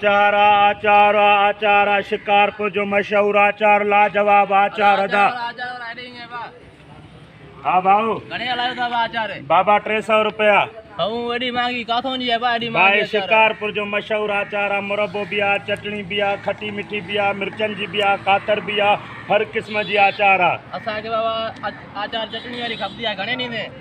آچار آ آچار آ آچار آ شڪارپور جو مشهور آچار لاجواب آچار ادا ها ڀائو گھڻي هلايو ٿا آچار بابا 300 روپيا هون وڏي مانگي ڪاٿون جي بابا اڏي مانگي بھائي شڪارپور جو مشهور آچار آ مربو به آ چٽڻي به آ کٽي مٺي به آ مرچن جي به آ کاتر به آ هر قسم جي آچار آ اسان کي بابا آچار چٽڻي واري کپندي آ گھڻي ڏيندين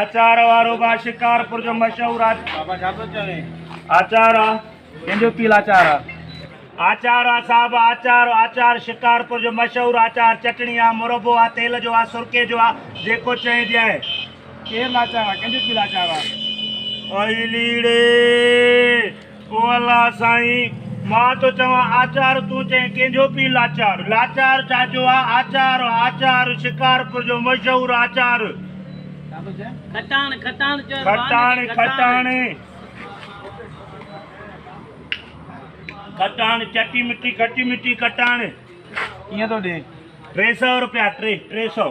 آچار وارو با شڪارپور جو مشهور آچار ڪنهن جو پيل آچار آ آچار آ صاحب آچار آچار شڪارپور جو مشهور آچار چٽڻي آ مربو آ تيل جو آ سرڪي جو آ جيڪو چئين جي آهي ڪيم آچار آ ڪنهن جو پيل آچار آ اوئي ليڙي او الله سائين! مان ٿو چوان آچار تون چئين ڪنهن جو پيء لاچار لاچار ڇا جو آ آچار آچار شڪارپور جو مشهور آچار کٽاڻ کٽاڻ چئبو آ کٽاڻ کٽاڻ کٽاڻ چٽي مٺي کٽي مٺي کٽاڻ ڪيئن ٿو ڏي ٽي سئو روپيا ٽي ٽي سئو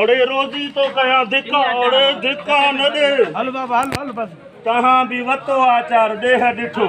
اڙي روزي تو ڪيان ڌڪا اڙي ڌڪا نه ڏي تنهن به وتو آچار ڏيهه ڏٺو.